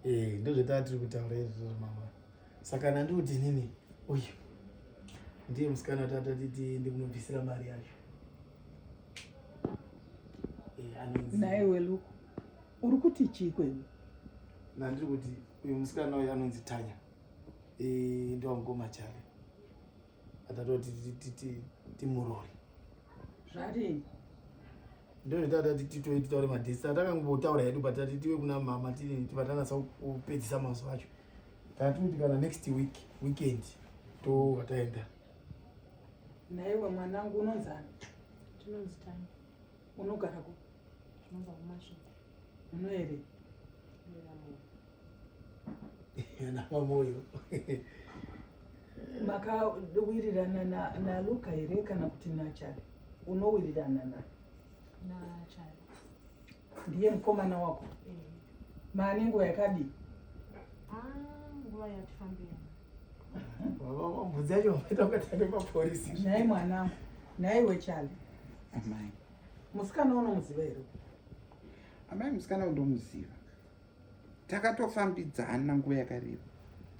Eh, ndozvataa tiri kutaura izvo mama saka nandi kuti nini uyu ndiye musikana tatatiti ndikunobvisira mari yacho eh, naye weluku uri kuti chii kwenyu nandiri kuti uyu musikana uyu anonzi tanya eh, ndowamukoma chave atatoti timurori zvadini ndozvataati titoe titaure madhesi atakangotaura hedu but tati tive kuna mama tivatanasa kupedzisa mazuva acho tatikuti kana next week weekend tova taenda naiwe mwanangu unonzani unogara ku Muno here? Yana pamoyo. Makawirirana na na Luka here kana kuti na Chari? Unowirirana na na Chari. Ndiye mukomana wako? Eh. Maane nguva yakadi? Ah, nguva yatifambira. Baba vambudzacho vakaita kuti ane maporisi. Nhai mwanangu, nhai wechali. Amai. musikana unomuziva here amai musikana undomuziva takatofambidzana nguva yakareba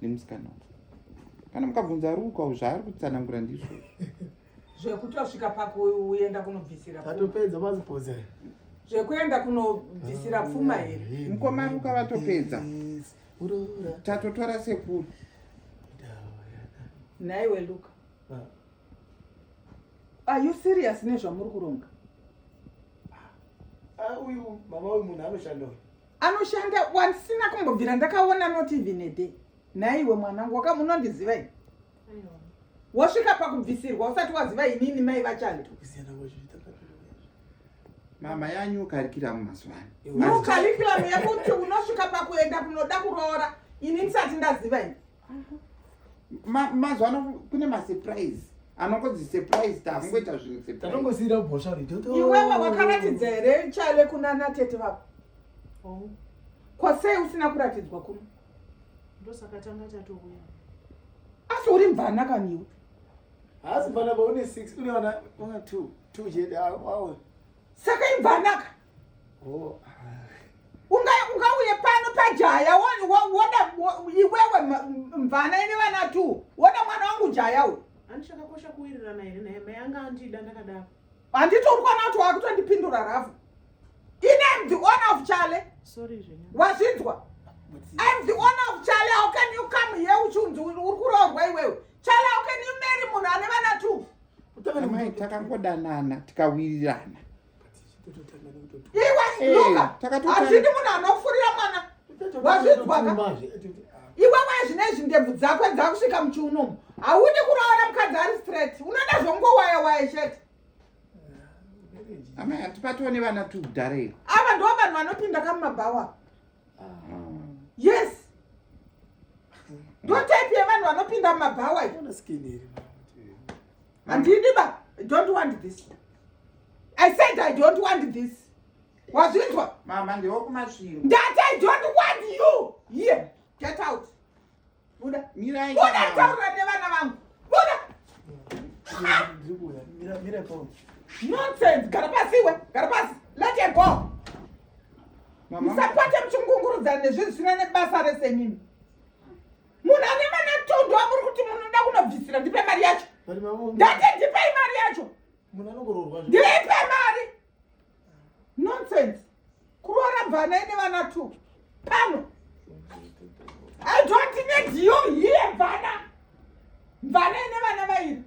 nemusikana uyu kana mukabvunza ruka u zvaari kutsanangura ndizvo zvekuti wasvika pakuenda kunobvisira atopedza mazipose zvekuenda kunobvisira pfuma ah, here mukoma ruka vatopedza tatotora sekuru nhaiwe luka ah. are you serious nezvamuri kuronga ah, uyu mama uyu munhu anoshanda uyu anoshanda wandisina kumbobvira ndakaona not even a day naiwe mwanangu waka munondiziva ini wasvika pakubvisirwa usati waziva inini mai vachando mama yanyu ukarikiramu mazuva ano ukarikiramu yekuti unosvika pakuenda kunoda kuroora ini ndisati ndaziva ini mazuva ano kune masurprise anongodzisurprisetaangoita zvinhu surpriseatongosiira bhosva iwewe wakaratidza here chaive kuna natete vako oh. kwasei usina kuratidzwa kuno ndosakatanga tatouya asi uri mvana kaniwe haasi mvana baune six une vana two two chete awe saka imvanaka ungauye pano pajaya woda iwewe mvana ine vana tu woda mwana wangu jaya uyu andichakakosha kuwirirana here naye mai anga andida ndakadaro handiti uri kuona kuti wakutondipindura rafu ine am the owner of chale wazvinzwa I'm the owner of Charlie. How can you come here uchunzi uri kuroorwa iwewe? Charlie, how can you marry munhu ane vana two? Amai takangodanana tikawirirana. hazvidi munhu anofurira mwana wazvinzwaka iwe mwana zvine izvi ndebvu dzakwe dzakusvika muchiunomu haudi kuroora mukadzi ari straight unoda zvongowaya waya chete amai hatipatiwo nevana tukudhara iri ava ndo vanhu vanopinda kamumabhawa yes ndo type yevanhu vanopinda mumabhawa handidi ba i don't want this i said i don't want this wazvinzwa mama ndewokumasviro ndati i don't want you here get out buda mirai buda taura nevana vangu buda nonsense gara pasi iwe gara pasi let her go musakwate muchingungurudza nezvinhu zvisina nebasa rese nini munhu ane vana tondo amuri kuti munoda kunobvisira ndipe mari yacho ndati ndipei mari yacho ndipe mari nonsense kuroora bvana ine vana two pano i don't need you here bvana bvana ine vana vairi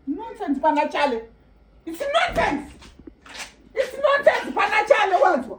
nonsense pana chale it's nonsense it's nonsense pana chale wanzwa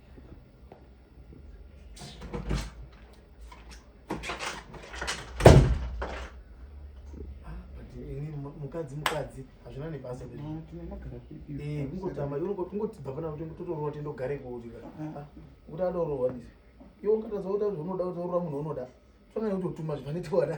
mukadzi mukadzi hazvina nebasa eh, kungotamba kungotibva pana kuti totorowa tindogare kuutika ah, ah. kuti adorowa ndizvo iwe ungatadza kuita kuti unoda kutorowa munhu unoda tongani kutotuma zvifanitiwana